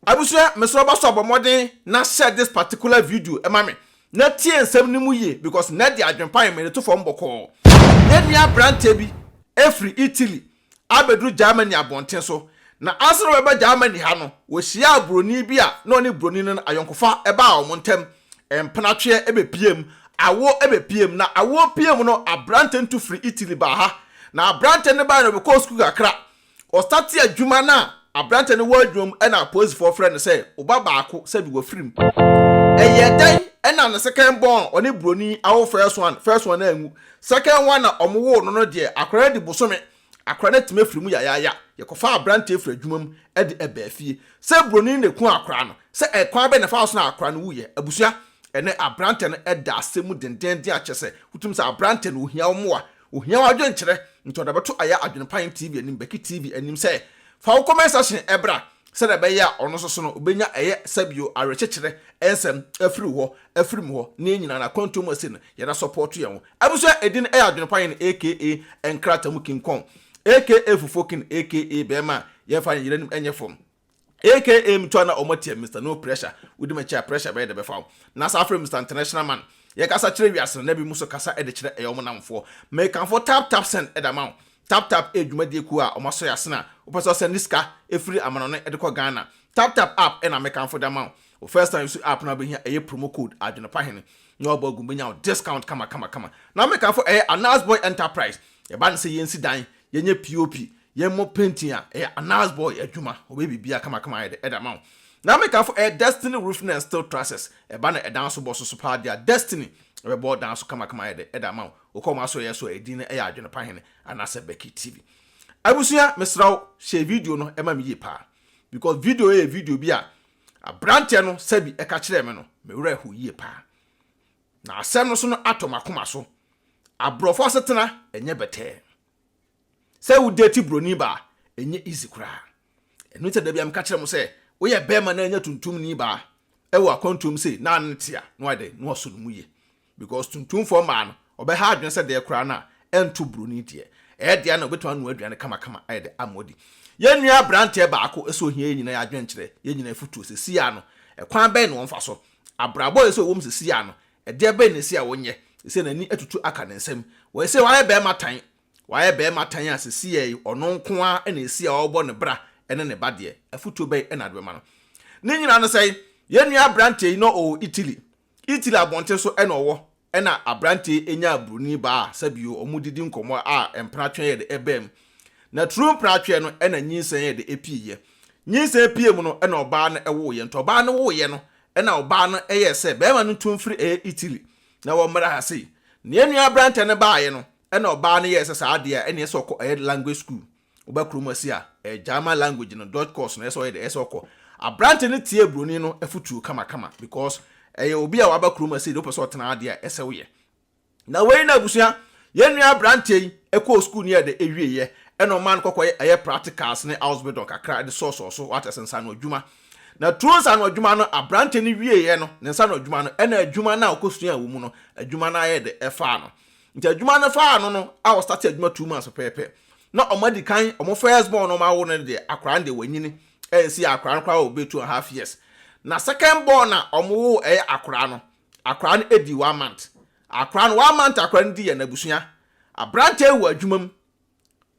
Abusua mesrɛ wo bɔso a bɔ mmɔden na share this particular video ma me na tie nsɛm no mu yie because nnɛ deɛ adwene pa yɛ mede to fam bɔkɔɔ. Yɛn nua aberanteɛ bi firi Italy abɛduru Germany abɔnten so na ansa na ɔbɛba Germany ha no ɔhyiaa buroni bi a na ɔne buroni no no ayɔnkofa baa wɔn ntam, mpenatweɛ bɛpieem, awoɔ bɛpieem na awoɔ pieem no aberanteɛ no tu firi Italy baa ha na aberanteɛ no baeɛ no ɔbɛkɔɔ sukuu kakra Ɔstate adwuma no a aberante no wɔ adwuma mu na apolisifoɔ frɛ no sɛ ɔba baako sɛbi wafirim. Ɛyɛɛ dɛn na ne second born a ɔne buroni awo first one, first one no anwu? Second one a wɔwoo no no deɛ akwadaa no adi bosome, akwadaa no atumi afiri mu yayaaya. Yɛkɔfaa aberanteɛ firii adwuma mu de ɛbaa fie. Sɛ buroni no na ɛkum akwadaa no, sɛ ɛkwan bɛn na ɛfaa so na akwadaa no wuiɛ? Abusua, ɛnnɛ aberante no da asɛm mu dendeenden a kyerɛ sɛ wotumi sɛ aberante no ɔhia wo mmoa, Ohia wo adwenkyerɛ nti ɔde bɛto Aya Adwenpae TV anim, Becky TV anim sɛ fa wo comment section bra sɛdeɛ ɛbɛyɛ a ɔno nso so no ɔbɛnya ɛyɛ sɛbio awerekyekyerɛ nsɛm afiri wo hɔ afiri me hɔ na yɛn nyinaa no akwantuo mu ɛsei no yɛda support yɛn ho abusua ɛdin ɛyɛ Adwenpae no aka nkrata mu king kong aka fufuo king aka bɛɛma a yɛmfa yɛn yere anim nyɛ fam aka me too a na ɔmo tia Mister No Pressure, wodi m'akyi a pressure bɛyɛ dɛ bɛfa wo, na saa frɛ Mister International Man, yɛkasa kyerɛ wiase no na ebinom nso kasa de kyerɛ ɛyɛ ɔmo nnamfoɔ. Mekamfo Tap Tap Send de ama wo, Tap Tap yɛ dwumadie kuo a ɔmo asɔ yɛ asene a wopɛ sɛ ɔsɛnde sika firi amanɔne de kɔ Ghana, Tap Tap App na mekamfo de ama wo, wo first time use app no a wobɛhia ɛyɛ promo code Adwenepahene na wabɔ agu bɛnya wo discount kama kama kama. Na mekamfo ɛyɛ Anaz Boy Enterprise, yɛba no sɛ yɛnsi dan, yɛnyɛ POP, Yɛ mɔ painting a ɛyɛ anars boy adwuma ɔbɛyɛ biribiaa kama kama ayɛ dɛ ɛde ama wo na me kanfo ɛyɛ destiny roofing and steel trusses ɛba na ɛdan so bɔ so so paa dea destiny ɛbɛbɔ dan so kama kama ayɛ dɛ ɛde ama wo wokɔ ɔmo asoɛyɛ so a ɛdin no ɛyɛ adwene pa hene anasɛ becky tv abusua mesrɛ wo hyɛ video no ɛma me yie paa because video yɛ video bi a abranteɛ no sɛbi ɛka kyerɛɛ me no me werɛ ho yie paa na asɛm no so no atɔ makoma so abrɔfo asetena ɛnyɛ bɛtɛɛ Sɛ wo date broni ba a, ɛnyɛ easy koraa. Ɛno nti na dabi a meka kyerɛ mo sɛ, woyɛ bɛɛma na anya tuntumni ba ɛwɔ akwantuo mu sei na ne te a, na wayɛ dɛn? Na wasɔ ne mu yie. Because tuntumfoɔ mmaa no, ɔbɛha adwene sɛ deɛ koraa no a ɛnto broni deɛ. Ɛyɛ deɛ a na ɔbɛtumi anoa aduane kamakama ayɛ dɛ ama wadi. Yɛn nua abranteɛ baako ɛsɛ ohia yɛn nyinaa adwenkyerɛ, yɛn nyinaa afutuo sɛsi ara no, ɛkwan bɛn na wɔmfa so? Abrabɔ a ɛsɛ ɔwɔ mu sɛsi ara no, Ɛdeɛ bɛn na ɛsɛ a ɔnyɛ? Ɛsɛ n'ani atutu aka ne nsam. Wɔyɛ sɛ wayɛ barima tan. Wayɛ barima tan a seesei yi ɔno nko ara na ɛsɛ a ɔbɔ ne bra ne ne ba deɛ. Afotuo bɛn na wode bɛma no? Ne nyinaa no sɛn? Yɛn nua aberanteɛ yi na ɔwɔ Italy. Italy abɔnten so na ɔwɔ ɛna aberanteɛ yi nyaa buroni baa a sɛbio wɔdidi nkɔmmɔ a mpratweɛ yɛ de baa mu. Na turu mpratweɛ no na nyinsɛn yɛ de pieeɛ. Nyinsɛn pieeɛ mu no na ɔbaa no woeɛ. Nti ɔbaa no woeɛ no Ɛnna ɔbaa no yɛe sɛ barima no tu mfiri ɛyɛ Itiri, na wɔmmra ha sei. Nea yɛn nua aberanteɛ no baeɛ no, ɛnna ɔbaa no yɛe sɛ saa adeɛ a, ɛnna ɛsɛ sɛ ɔkɔ ɛyɛ language school. Woba kurom asi a, ɛyɛ German language no, Deutsch course no, ɛyɛ sɛ ɔyɛ dɛ, ɛyɛ sɛ ɔkɔ. Aberanteɛ no tiee buroni no afotuo kamakama, because ɛyɛ obi a waba kurom asi deɛ wopɛ sɛ ɔtena ha deɛ a, ɛsɛ woyɛ. Na wei na abusua, yɛn nua aberanteɛ yi ɛkɔɔ sukuu ne ɛdɛ ɛwie yɛ, ɛna ɔmaa no kɔkɔ yɛ ɛyɛ practicals ne Ausbildung kakra de sɔɔsɔɔ so, wate ase, nsano adwuma. Na through nsano adwuma no, aberanteɛ no wie yɛ no, ne nsano adwuma no, ɛna adwuma no a ɔkɔ suaa wɔ mu no, adwuma no ayɛ dɛ ɛfaa no. Nti adwuma no faa no no, a ɔ startee adwuma two months pɛpɛɛpɛ, na ɔmo adi kan, ɔmo first born no ɔmo awo no no deɛ, akwadaa no deɛ wanyini, ɛnsi akwadaa no koraa wɔ bɛyɛ two and half years. Na second born a ɔmo woo ɛyɛ akwadaa no, Akwadaa no adi one month. Akwadaa no one month akwadaa no di yɛ n'abusua. Abranteɛ yi wɔ adwuma mu.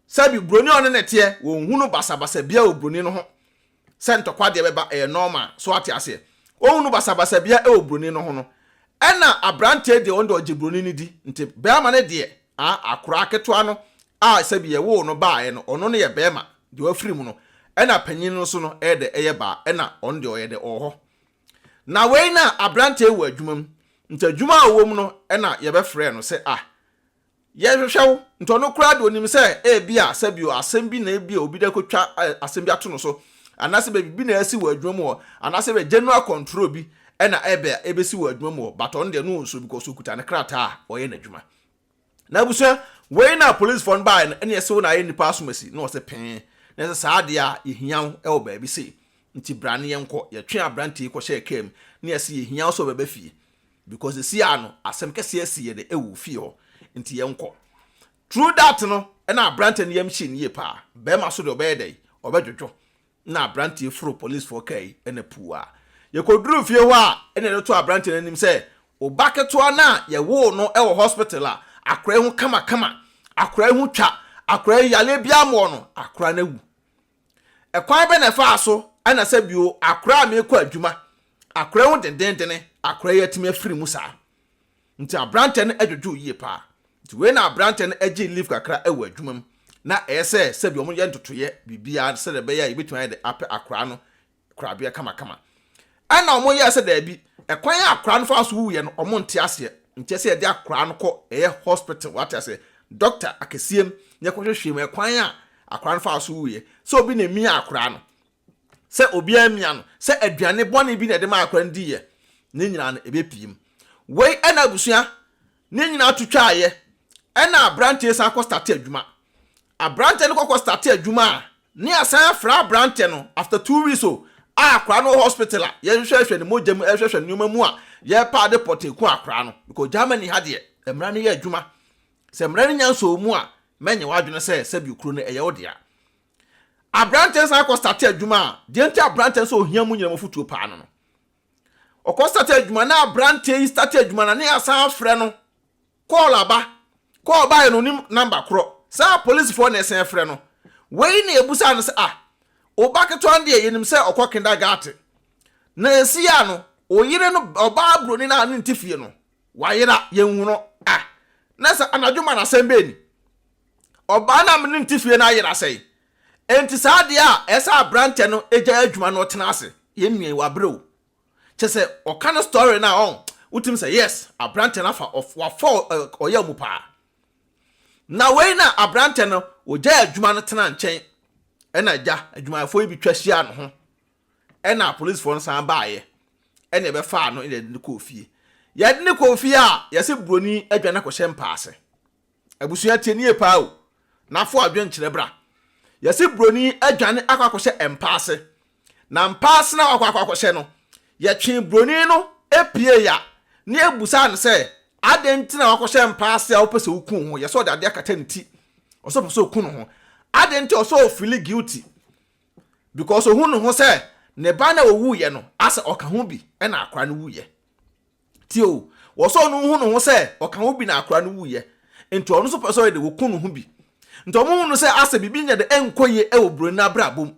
Sɛbi broni a ɔne ne teɛ wɔnhu no basabasa biara wɔ broni no ho. Sɛ ntɔkwa deɛ bɛba ɛyɛ normal so wate aseɛ. Wɔnhu no basabasa biara ɛwɔ broni no ho no. Ɛna abranteɛ deɛ ɔno deɛ ɔgye broni no di. Nti bɛɛma no deɛ ah akoraa ketewa no a sɛbi yɛ woo no baeɛ no ɔno no yɛ bɛɛma deɛ wafiri mu no. Ɛna panyin no nso no ɛyɛ dɛ ɛyɛ baa ɛna ɔno deɛ ɔyɛ dɛ ɔwɔ hɔ. Na wei na aberanteɛ yi wɔ adwuma mu, nti adwuma a ɔwɔ mu no na yɛbɛfrɛɛ no sɛ ah, yɛhwehwɛ wo, nti ɔno koraa deɛ ɔnim sɛ ebia sɛbio asɛm bi na ebia obi de akɔtwa asɛm bi ato no so, anaasɛ baabi bi na asi wɔ adwuma mu hɔ, anaasɛ ebia general control bi na ebia ebɛsi wɔ adwuma mu hɔ, but ɔno deɛ no ɔnsuo because ɔkuta ne krataa a ɔyɛ n'adwuma. Na abusua, wei na polisfoɔ no baeɛ no, ɛnna ɛsɛ wo na ayɛ nnipa asomasi, na wɔsɛ pee, na ɛsɛ saa adeɛ a yɛhia wo wɔ baabi sei, nti bra ne yɛnkɔ, yɛtwee aberanteɛ yi kɔhyɛɛ kaa mu, na yɛse yɛhia wo sɛ wobɛba fie, because sesei ara no asɛm kɛseɛ asi yɛ dɛ wɔ fie hɔ, nti yɛnkɔ. Through that no, ɛnna aberanteɛ no yam hyee no yie paa, barima so deɛ ɔbɛyɛ dɛn, ɔbɛdwodwo. na aberanteɛ yi foroo polisfoɔ kaa yi na puu a yɛkɔduruu fie hɔ a na yɛde too aberanteɛ no anim sɛ, Wo ba ketewa no a yɛwoo no wɔ hospital a akwadaa yi ho kamakama, akwadaa yi ho twa, akwadaa yi yareɛ biara mmɔɔ no, akwadaa no awu. Ɛkwan bɛ na ɛfaa so na sɛ bio akwadaa a meekɔ adwuma, akwadaa yi ho dendenndene, akwadaa yi atumi afiri mu saa. Nti aberanteɛ no dwodwoo yie paa. Nti wei na aberanteɛ no gyee leave kakra wɔ adwuma mu na ɛyɛ sɛ sɛbi wɔn yɛ ntotoeɛ biribiara sɛdeɛ ɛbɛyɛ a yɛbɛtumi ayɛ de apɛ akoraa no korabeɛ kamakama. Ɛna wɔn yɛɛ sɛ daabi, ɛkwan a akoraa no faa so wuuiɛ no wɔn nte aseɛ, nti ɛsɛ yɛde akoraa no kɔ ɛyɛ hospital wate aseɛ, doctor akɛseɛ mu na yɛkɔ hwehwɛ mu ɛkwan a akoraa no faa so wuuiɛ, sɛ obi na emiaa akoraa no, sɛ obiara amia no sɛ aduane bɔne bi na ɛde maa akwadaa no diiɛ, ne nyinaa no, ɛbɛpue mu. Wei na abusua ne nyinaa to twaeɛ, ɛna aberanteɛ san kɔ starte adwuma. Aberanteɛ no kɔkɔ starte adwuma a, ne asan afra aberanteɛ no after two weeks o, a akwadaa no wɔ hospital a yɛhwehwɛhwɛ ne mogya mu, ɛhwehwɛhwɛ nneɛma mu a yɛpaa de pɔtee ku akwadaa no. Because Germany ha deɛ, mmara no yɛ adwuma. Sɛ mmara no nya nsɔɔ mu a, mɛnyɛ w'adwene sɛ sɛbi okuro no ɛyɛ wo dea. Aberanteɛ no san kɔ starte adwuma a, deɛ nti aberanteɛ no sɛ ohia mu nyinam afutuo paa no no. Ɔkɔ starte adwuma na aberanteɛ yi starte adwuma na ne asan afrɛ no. Call aba. Call baeɛ no onim number korɔ. Saa polisifoɔ na ɛsan frɛ no. Wei na yɛbusaa no sɛ ah, wo ba ketewa no deɛ yɛnim sɛ ɔkɔ kindergarten. Na ɛsii a no, wo yere no, ɔbaa buroni no a ne nte fie no, wayera, yɛnhu no. Ah, na sɛ anadwo ma no asɛm bɛn ni? Ɔbaa no a me ne no te fie no ayera sɛe. Enti saa adeɛ a ɛsɛ aberanteɛ no gyae adwuma na ɔtena ase. Yɛn nua yi wabrɛ o. Kyɛ sɛ ɔka ne story no a ɔn, wotumi sɛ yes, aberanteɛ no afa, wafa ɔyɛ mu paa. Na wei na aberanteɛ no ɔgyae adwuma no tena nkyɛn ɛna agya adwumayɛfoɔ yi bi twa hyia no ho ɛna apolisifoɔ no san baeɛ ɛna ɛbɛfaa no ɛna ɛde no kɔɔ fie. Yɛde no kɔɔ fie a yɛse buroni adwane akɔhyɛ mpaase. Abusua tie nie paa o na fo adwen kyerɛ bra yɛse broni adwane akɔ akɔhyɛ mpaase na mpaase na wakɔ akɔ akɔhyɛ no yɛtwe broni no pie ya ne abusa no sɛ aden nti na wakɔhyɛ mpaase a wopɛ sɛ woku ho yɛsɛ ɔde ade akata ne ti ɔsɛ ɔpɛ sɛ oku no ho aden nti ɔsɛ ofili guilty because ohun ne ho sɛ ne ba na owu yɛ no asɛ ɔka ho bi ɛna akora no wu yɛ. Tie o, wɔ sɛ ɔno nhu ne ho sɛ ɔka ho bi na akora no wuiɛ, nti ɔno nso pɛ sɛ ɔyɛ dɛ ɔku ne ho bi. Nti ɔmo hu no sɛ asɛ biribi nyɛ dɛ ɛnkɔ yie wɔ broni no abrabɔ mu,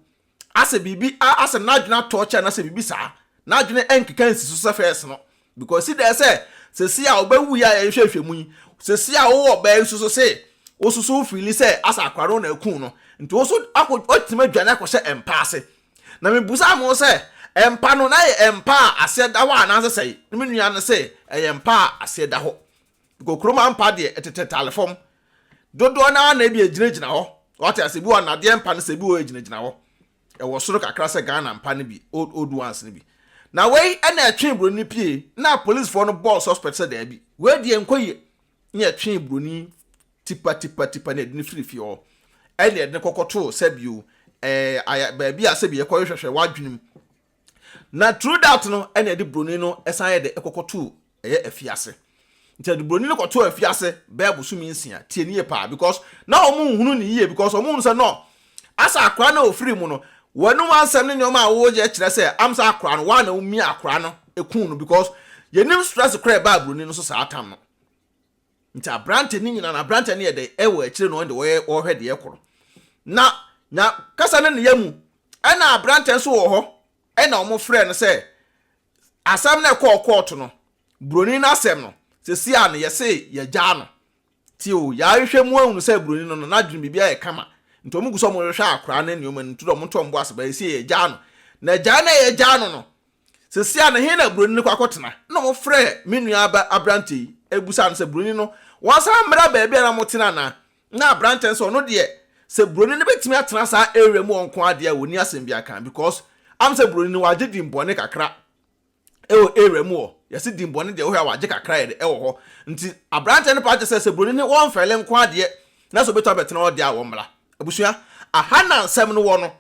asɛ biribi a asɛ n'adwene atɔ kyɛ anasɛ biribi saa, n'adwene ɛnkeka nsi so sɛ first no because ɔsi dɛ sɛ sesei a ɔba wuiɛ a yɛhwɛ hwɛ mu yi, sesei a wowɔ ɔbaa yi so so se wo so so wo feeli sɛ asɛ akora no na aku no, nti wo so akɔ, watumi adwane akɔhyɛ mpa ase, Na mibisaa mo sɛ, Mpa no na ɛyɛ mpa a aseɛ da hɔ anaasɛ sɛn? Na me nua no se, Ɛyɛ mpa a aseɛ da hɔ. Kokuroma mpa deɛ, ɛtetɛ tare fam. Dodoɔ no ara na ebi ɛgyinagyina hɔ. Wate aseɛ? Ebi wɔ nnadeɛ mpa no sɛ, ebi wɔ hɔ ɛgyinagyina hɔ. Ɛwɔ soro kakra sɛ Ghana mpa no bi, old old ones no bi. Na wei na ɛtwee buroni no pie, na apolisifoɔ no bɔɔ suspect sɛ daabi, wei deɛ ɛnkɔ yie, na ɛtwee buroni Tipatipatipa na yɛde no firii fie hɔ, ɛnna yɛde no kɔkɔtoo sɛbio ɛɛ baabi a sɛbi yɛkɔ hwehwɛ w'adwene mu. Na through that no, ɛnna yɛde buroni no san yɛ dɛ ɛkɔkɔtoo ɛyɛ afiase. Nti yɛde buroni no kɔtoo afiase bɛyɛ bosome nsia. Tie nie paa because na wɔn nhunu ne yie because wɔn hunu sɛ no asa akora no a ofiri mu no wɔnum ansɛm ne nneɛma a wɔyɛ kyerɛ sɛ amsa akora no wɔn a na wɔmia akora no ekun no because yɛnim stress kora ɛbaa buroni no so saa tam no. Nti aberante no nyina no aberante no yɛ dɛ ɛwɔ akyire no ɔnde wɔyɛ wɔhwɛ deɛ ɛkɔ no na nya kasa no ne yamu ɛna aberante nso wɔ hɔ ɛna wɔn frɛ no sɛ asɛm no ɛkɔɔ kɔɔto no buroni no asɛm no sɛsi a no yɛse yɛgyaa no ti o yɛahwehwɛ mu ahunu sɛ buroni no no n'adwene biribi ayɛ kama nti wɔn gu sɛ wɔn hwehwɛ akora ne nneɛma no nti wɔn nto wɔn bo ase ba yɛsi yɛgyaa no na gyaa na yɛgyaa no no Seesei a ne he na buroni no kɔ akɔtena? Nna wɔfrɛ me nua ba aberantɛ yi bisaa no sɛ buroni no wɔasan mmra baabi a na wɔtena anaa. Nna aberantɛ no sɛ ɔno deɛ sɛ buroni no bɛtumi atena saa area mu ɔnko ara deɛ a wɔnni asɛm biara ka because am sɛ buroni no wɔagye din bɔne kakra wɔ area mu hɔ. Yɛse din bɔne deɛ wohwɛ a wɔagye kakra yɛ de wɔ hɔ nti aberantɛ no paa gye sɛ sɛ buroni no wɔmfɛle nko ara deɛ na sɛ ɔbɛtumi abɛtena hɔ deɛ a wɔmmra. Abusua, aha na nsɛm no wɔ no.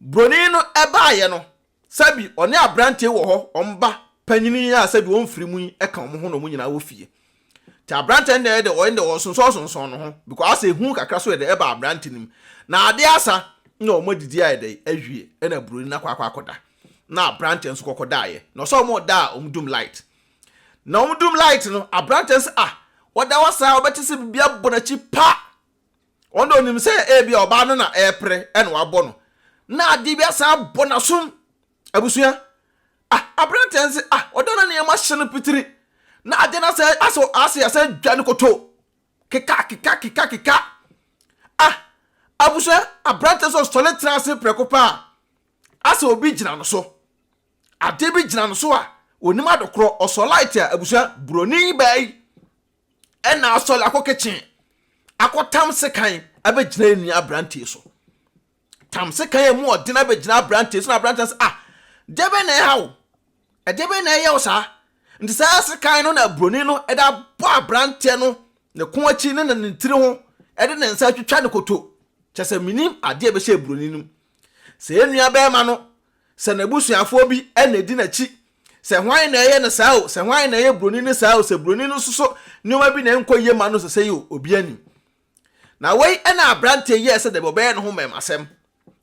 Buroni no baeɛ no Sɛbi ɔne aberanteɛ wɔ hɔ wɔn ba panyini yi a sɛbi wɔn mfiri mu yi ɛka wɔn ho na wɔn nyinaa wɔ fie nti aberanteɛ no deɛ ɔyɛ deɛ ɔsonsɔn sonsɔn ne ho because asɛ ehu kakra so ɛdɛ ɛba aberante no mu na adeɛ asa na wɔn adidi ayɛ dɛ awie ɛna buroni no akɔ akɔ akɔda na aberanteɛ nso kɔkɔ daeɛ na ɔsɛ wɔn da a wɔn dum light na wɔn dum light no aberanteɛ no sɛ ah wɔda hɔ saa wɔbɛte sɛ biribi abɔ n'akyi pa. Ɔno na onim sɛ ebia ɔbaa no na ɛrepere na wabɔ no, na adeɛ bi asan abɔ n'asom. Abusua, ah, aberanteɛ no sɛ, ah, ɔda na nneɛma hyɛ no pitiri, na adeɛ no asɛ, asɛ, asɛ, asɛ dwa no koto. Keka, keka, keka, keka. Ah, abusua, aberanteɛ sɛ ɔsɔre tena ase prɛko paa, asɛ obi gyina no so. Adeɛ bi gyina no so a, onim adekorɔ, ɔsɔ light a, abusua, buroni baa yi. ɛna asɔre akɔ kitchen akɔtam sekan abɛgyina yɛ nua aberanteɛ so tam sekan a mu ɔden abɛgyina aberanteɛ so na aberanteɛ sɛ ah deɛ bɛn na ɛha wo ɛdeɛ bɛn na ɛyɛ wo saa nti saa sekan no na buroni no ɛde abɔ aberanteɛ no ne ko akyi ne ne tiri ho ɛde ne nsa atwitwa ne koto kyɛ sɛ menim adeɛ bɛhyɛ buroni no sɛ yɛ nua bɛrima no Sɛ n'abusuafoɔ bi na ɛdi n'akyi, sɛ hwan na ɛyɛ no saa o, sɛ hwan na ɛyɛ buroni no saa o, sɛ buroni no nso so nneɛma bi na ɛnkɔ yie ma no sɛsɛi o, obiara nnim. Na wei na aberanteɛ yɛɛ sɛ dabi ɔbɛyɛ ne ho mmarimasɛm,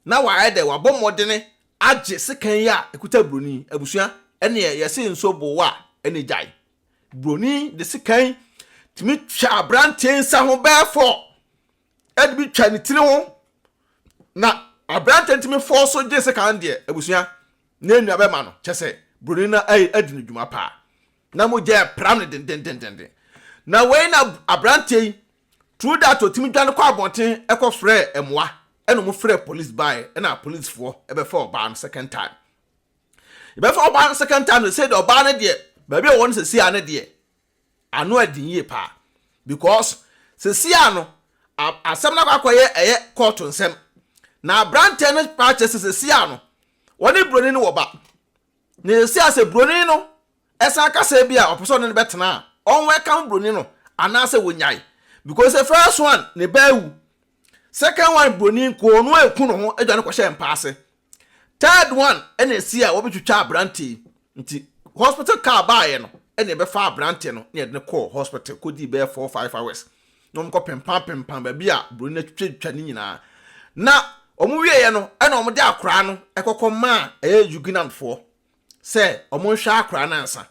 na wayɛ dɛ, wabɔ mmɔdene agye sekan yi a ɛkuta buroni. Abusua, ɛnneɛ yɛse nsuo boo wo a, ɛnneɛ gyae. Buroni de sekan tumi twa aberanteɛ nsa ho bɛɛfɔ. ɛde bi twa ne tiri ho na aberante ntumi fɔɔ so gye sɛ kan deɛ abusua na nnua bɛma no kyɛ sɛ buroni no adi no dwuma paa na mogya apira no dendendendenden na wei na aberanteɛ yi true that ɔtumi dwane kɔ abɔnten ɛkɔ frɛ mmoa ɛna ɔmo frɛ police baeɛ ɛna policefoɔ ɛbɛfa ɔbaa no second time yɛbɛfa ɔbaa no second time no sɛ deɛ ɔbaa no deɛ baabi a ɔwɔ no sɛ si a no deɛ Ano ɛden yie paa because sɛsi a no asɛm no akɔ akɔ yɛ ɛyɛ court nsɛm na abrantɛ no paa kyɛ sɛ sɛsi a no wɔne broni no wɔ ba na sɛsi a sɛ broni no ɛsan kasa bi a ɔpɛ sɛ ɔne no bɛtena a ɔn welcome broni no anaasɛ wɔnyae because the first one ne ba awu second one broni nkoo no ɛku no ho adwane kɔhyɛ mpa ase Third one ɛna esi a wɔbɛtwitwa aberante yi nti hospital car baayɛ no ɛna ɛbɛfa aberante no na yɛde no kɔɔ hospital kɔdii bɛyɛ four five hours na wɔn kɔ pempam pempam baabi a buroni no atwitwatwa ne nyinaa na wɔn wieɛ no ɛna wɔn de akoraa no ɛkɔkɔ maa ɛyɛ Yugunan foɔ sɛ wɔnhwɛ akwadaa no ansa.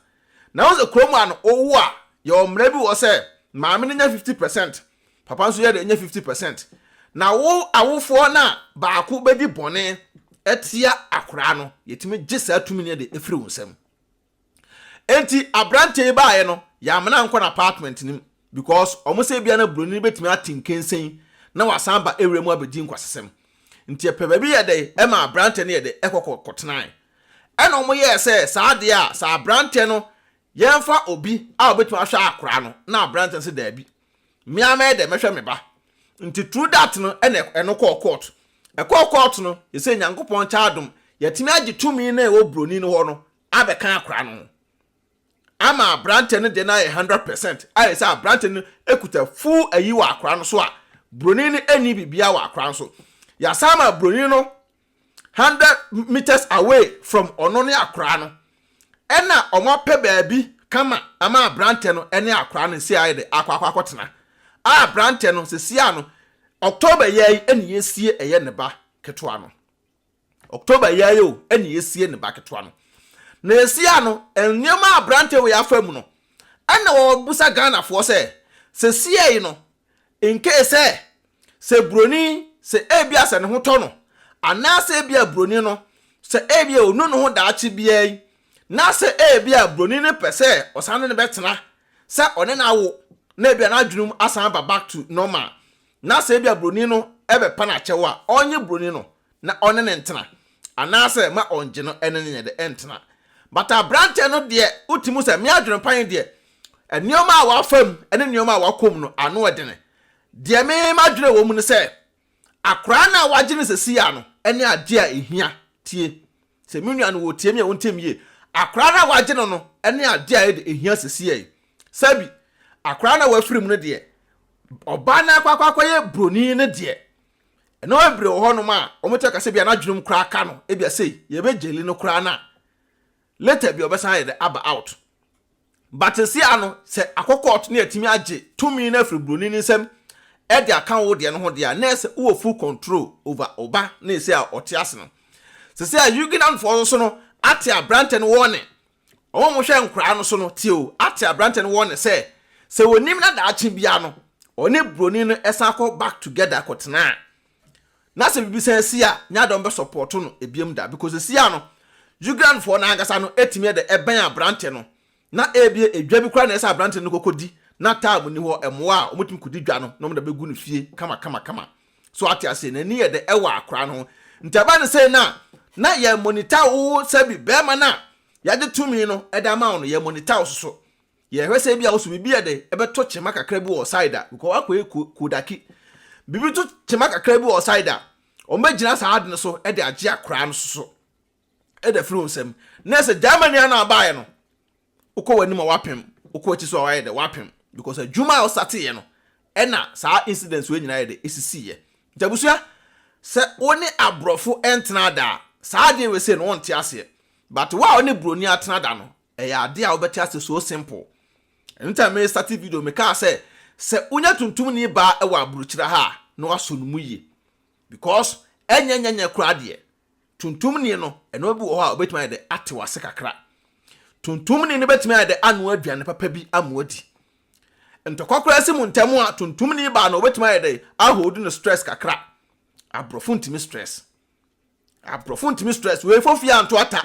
Na wɔn sɛ kurom a no wowo a yɛwɔ mmara bi wɔ sɛ maame no nya fifty percent papa nso yɛ dɛ nya fifty percent na wo awofoɔ no a baako bɛdi bɔne atia akwadaa no yɛtumi gye saa tumi no de efiri wɔn nsam. Enti aberanteɛ yi baeɛ no yɛamena nkɔ n'apartment no mu Because ɔmo sɛ ebia na broni no bɛtumi ate nkensen na wasan aba area mu abɛdi nkwasasɛm. Nti ɛpɛ baabi yɛ dɛ ɛma abranteɛ no yɛ dɛ ɛkɔ kɔ kɔ tenae. Ɛna ɔmo yɛɛ sɛ saa adeɛ a sɛ abranteɛ no yɛnfa obi a ɔbɛtumi ahwɛ akoraa no na abranteɛ no sɛ daabi me ara mɛyɛ dɛ mɛhwɛ me ba. Nti through that no ɛna ɛno kɔɔ court. Ɛkɔɔ court no sesei Nyankopɔn kyɛ adom yɛtumi agye tumi no a ɛwɔ broni no hɔ no abɛka akoraa no ho. ama aberanteɛ no deɛ no ayɛ hundred percent ayɛ sɛ aberanteɛ no kuta full ayi wɔ akora no so a broni no ɛni biribiara wɔ akora no so yɛasan ma broni no hundred meters away from ɔno ne akora no ɛna wɔn apɛ baabi kama ama aberanteɛ no ɛne akora no si ayɛ de akɔ akɔ akɔtena a aberanteɛ no sisi ano October yɛ yi ɛna yɛsie ɛyɛ ne ba ketewa no. October yi ara yi o ɛna yɛsie ne ba ketewa no. Na yɛsie a no, nneɛma a aberanteɛ wei afa mu no, ɛna ɔrebisa Ghanafoɔ sɛ, sesie yi no, in case sɛ, sɛ buroni, sɛ ebia sɛ ne ho tɔ no, anaasɛ ebia buroni no, sɛ ebia ɔnu ne ho daakye biara yi, na sɛ ebia buroni no pɛ sɛ ɔsan ne no bɛtena, sɛ ɔne no awo, na ebia n'adwene mu asan aba back to normal, na sɛ ebia buroni no bɛpa no akyɛw a, ɔnye buroni no, na ɔne no ntena, anaasɛ ma ɔngye no ne no nyɛ dɛ ntena. But aberanteɛ no deɛ wote mu sɛ, me adwenepa he deɛ, nnoɔma a wafa mu ne nnoɔma a wakɔ mu no, ano ɔdene. Deɛ me madwene wɔ mu ne sɛ, akoraa no a wagye no sesie a no ne adeɛ a ehia. Tie. Sɛ me nua no wɔ tie me a wontie me yie. Akoraa no a wagye no no ne adeɛ a ɛde ehia sesie yi. Sɛbi, akoraa no a wafiri mu no deɛ, ɔbaa no akɔ akɔ akɔyɛ broni no deɛ, Nneɛma bebree wɔ hɔnom a wɔbɛtumi aka sɛ ebia n'adwenem koraa aka no, ebia sei, yɛbɛgyeli no koraa no a, later bi ɔbɛsan ayɛ dɛ aba out. But sesia no, sɛ akɔ court na yɛatumi agye tumi no afiri buroni no nsam de aka wo deɛ no ho deɛ a, na ɛsɛ wowɔ full control over wo ba na ɛsɛ a ɔte ase no. Sesia Huguenotfoɔ nso no ate aberantɛ no warning Wɔn a wɔhwɛ nkwadaa no so no tew ate aberante no wɔ nne sɛ, sɛ onim na daakye biara no, ɔne buroni no san kɔ Back Together kɔtena a, na sɛ biribi san si a, Nyadɔn bɛsɔpɔɔto no bio da. Because sesia no, Ugandafoɔ no ankasa no atumi de bɛn aberante no, na ebia edwa bi koraa na ɛsɛ sɛ aberante no kɔkɔdi, na time nni hɔ, mmoa a wɔtumi kɔdi dwa no na wɔde bɛgu no fie kamakamakama. So wate aseɛ? N'ani yɛ dɛ ɛwɔ akora no ho. Nti ɛba no sɛ na na yɛ monita wo sɛbi bɛrima no a yɛagye tumi no ɛde ama wo no yɛ monita wo so so. Yɛhwɛ sɛ ebi a wo so biribi yɛ dɛ ɛbɛtɔ kyema kakra bi wɔ side a because wakɔ yɛ kodaki. Biribi to kyema kakra bi wɔ side a wɔbɛgyina saa ade no so ɛde agye akora no so so. ɛda firi wo nsam na ɛsɛ gyama nua no a baeɛ no wokɔ w'anim a wapem wokɔ akyi so a wayɛ dɛ wapem because adwuma a ɔsateeɛ no ɛna saa incidents wei nyinaa yɛ dɛ ɛsisiiɛ nti abusua sɛ wo ne aborɔfo ntena da a saa adeɛ wei sei no wonte aseɛ but wo a wo ne buroni atena da no ɛyɛ adeɛ a wobɛte aseɛ so simple ɛno nti a me starte video mekaa sɛ sɛ wonya tuntum ni baa ɛwɔ aburokyira ha a na wasɔ no mu yie because ɛnyɛ nyɛ nyɛ koraa deɛ Tuntumni no, nneɛma bi wɔ hɔ a obetumi ayɛ dɛ ate w'ase kakra. Tuntumni no betumi ayɛ dɛ anoa aduane papa bi ama wadi. Ntɔkwa koraa si mo ntam a, tuntumni baa no obetumi ayɛ dɛ ahoodi no stress kakra. Aborɔfo ntumi stress. Aborɔfo ntumi stress. Wei fofia anto ata.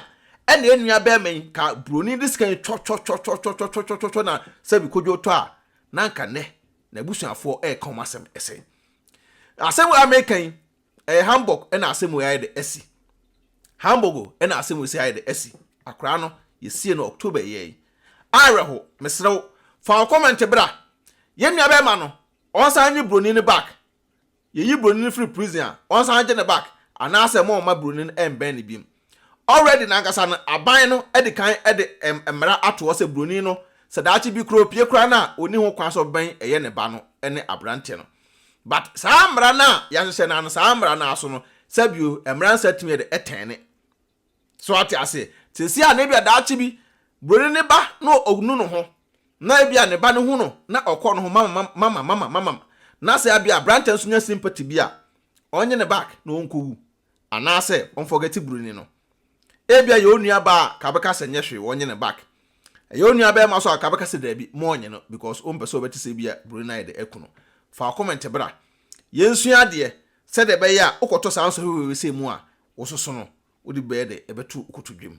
Ɛna enua bɛrima yi ka buroni de sika yi twɔtwɔtwɔtwɔtwɔtwɔtwɔtwɔ na sɛbi kodwo tɔ a, na anka nnɛ n'abusuafoɔ ɛreka wɔn asɛm ɛsɛn. Asɛm a meka yi, Ɛyɛ Hamburg na asɛm wei ayɛ dɛ asi. Hamburg na asɛm wei si ayɛ dɛ asi. Akwadaa no, yɛsiee no October yɛ yi. Awerɛho, mesrɛ wo, fa wo comment bra. Yɛn nuabɛɛma no, ɔnsan nye buroni no back. Yɛyi buroni no firi prison a, ɔnsan gye no back, anaasɛ moomma buroni no mmɛn no biom. Already no ankasa no aban no adi kan de mmara ato hɔ sɛ buroni no sɛ daakye bi koraa opie koraa no a onni ho kwan sɛ ɔbɛn ɛyɛ ne ba no ne aberante no. But saa mmara no a yɛahyehyɛ no ara no saa mmara no ara so no sɛ bio mmara nsa tumi de tɛne. So ate ase? Seesei a na ebia daakye bi buroni ne ba na onu no ho na ebia ne ba no hu no na ɔkɔ no ho mama mama mama mama na sɛ ebia aberante nso nya sympathy bi a ɔnye no back na ɔnkɔwu. Anaasɛ ɔnfɔgɛte broni no. Ebia ɛyɛ onua baa a ka bɛka sɛ nyɛ hwee wɔnye no back. Ɛyɛ onua bɛɛma so a ka bɛka sɛ daabi mo ɔnye no because ompɛ sɛ ɔbɛte sɛ ebia broni no ayɛ dɛ aku no. Fa wo comment bra. Yɛnsua adeɛ, sɛdeɛ ɛbɛyɛ a wokɔtɔ saa nsɔhwɛ wei wesei mu a wososo no wode bɛyɛ dɛ ɛbɛto wo kotodwem.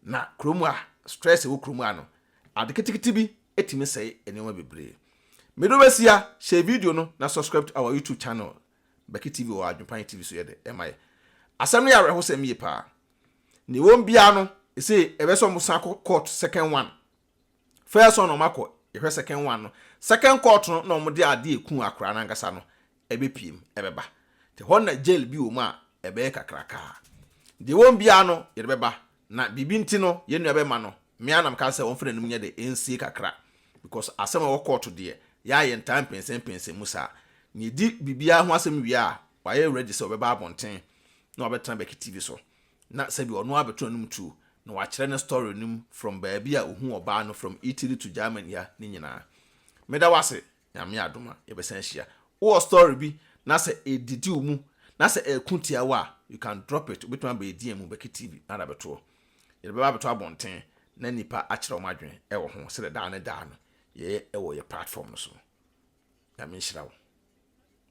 Na kurom a stress ɛwɔ kurom a no ade ketekete bi ɛtumi sɛe nneɛma bebree. Medɔ bɛsia, share video no na subscribe to our YouTube channel. Bɛke TV wɔ Adwempan TV so yɛ dɛ ɛma yɛ. Asɛm no yɛ awerɛhosɛm yie paa. Nea ɛwɔ mu biara no, ɛsɛ ɛbɛ sɛ wɔsan kɔ court second one. First one na wɔakɔ, yɛhwɛ second one no. Second court no na wɔde adeɛ a ɛkuu akwaraa no ankasa no ɛbɛpue mu ɛbɛba. Nti hɔ no na jail bi wɔ mu a ɛbɛyɛ kakrakaa. Deɛ ɛwɔ mu biara no, yɛde bɛba. Na biribi nti no yɛn nua bɛma no me ara na meka sɛ ɔmfa n'anim nyɛ dɛ ɛnsie kakra because asɛm a ɛwɔ kɔɔto deɛ yɛn a yɛntaa mpɛnsɛmpɛnsɛm mu saa. Nea ɛdi biribiara ho asɛm wie a wayɛ ready sɛ ɔbɛba abɔnten na wabɛtena Becky TV so na sɛbi ɔno ara bɛto n'anom tuo na wakyerɛ ne story no mu from baabi a ɔhuu ɔbaa no from Italy to Germany ha ne nyinaa. Meda wo ase Nyame adom a yɛbɛsan ahyia. Wowɔ story bi na sɛ ɛdidi wo mu na sɛ ɛko tia wo a, you can drop it, wobɛtumi aba yɛn DM mu, Becky TV, na ada bɛtoɔ. Yɛde bɛba abɛto abɔnten na nnipa akyerɛ wɔn adwene ɛwɔ ho sɛdeɛ daa ne daa no yɛyɛ ɛwɔ yɛn platform no so no. Nyame nhyira wo.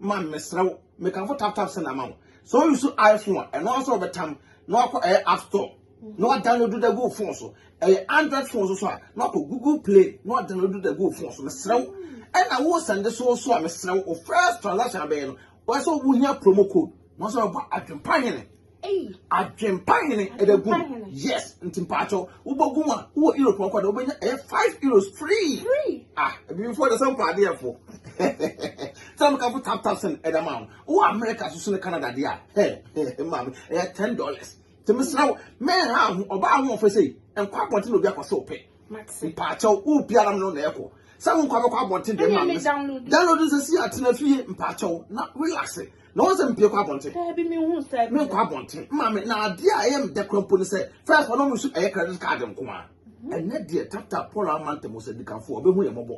ma me mesrɛ wo mekamfo tap tap sɛ na ma wo sɛ wo use iphone a ɛno nso wɔbɛtam na wakɔ ɛyɛ app store na wadownload da gu phone so ɛyɛ android phone so so a na wakɔ google play na wadownload da gu phone so mesrɛ wo ɛna wo sɛnde so so a mesrɛ wo first transaction abɛyɛ no wɔsɛ wo hia promo code na wɔsɛ wɔbɔ adwempa hene Adwempa hene ɛbɛ gu yes nti mpaatɔ wobɛgu mu a wowɔ europe ɔkɔ de wobɛnya ɛyɛ five euros free ah ebifoɔ de sɛ mpɔ adeɛ fo sɛ mo kafo tap tap sɛn ɛda maa mo wowɔ america soso ne canada deɛ a hɛ hɛ maame ɛyɛ ten dollars tèmi sra wo mɛn ha ho ɔbaa ho ɔfɛ sɛ nkɔ abɔnten na obi akɔ so pɛ mpaatɔ wo biara mo na ɛkɔ sɛ wo nkɔ abɛkɔ abɔnten deɛ maame download nsɛsi atena fie mpaatɔ na relax na wɔn sɛ mpie kɔ abɔnten daabi mi hu sɛ mi nkɔ abɔnten maame na adeɛ a ɛyɛ mdɛ kora mpo ne sɛ fɛs hɔ na wɔn su ɛyɛ credit card nko a mhm. ɛnɛ deɛ tata paul amanta mu sɛ dikanfoɔ ɔbɛhu yɛ mɔbɔ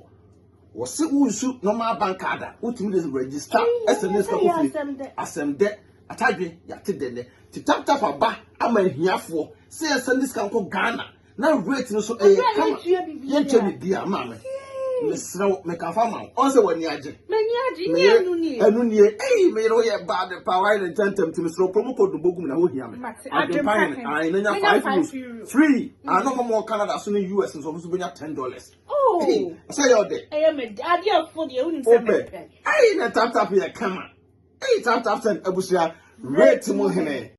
wɔsi wunsu normal bank card a wotumi de register ɛsɛ ne sika kofie asɛm dɛ atadwe yate dɛ nɛ ti tap tap aba ama ahiafoɔ sɛ yɛsɛ ne sika nkɔ ghana na weight no so ɛyɛ eh, kama yɛntwa biribiara maa me mesrɛ wo mekafa ma wo ɔn sɛ w'ani agye meyɛ ɛno nie ei meyere woyɛ bad pa woayɛ ne ntɛntɛm nti mesrɛ wopɛ mu kɔdu bɔgum na wohia me adwempa yɛ ne ae na nya five euros free mm. ano hɔ mɔ canada so ne us nso ɔmo so bɛnya ten dollars oh. sɛ yɛ ɔdɛ wopɛ ei na taptap yɛ kama Eyi tap tap send abusua rate mu hene.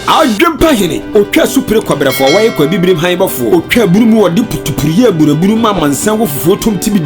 Adwempa hene, otwa asupire kɔbrɛfoɔ, wɔyɛ kɔ abibirem han bɔfoɔ, otwa abunu mu wɔde putupuruyɛ aburabunu ma amansan wɔ fufuo tom tibidi.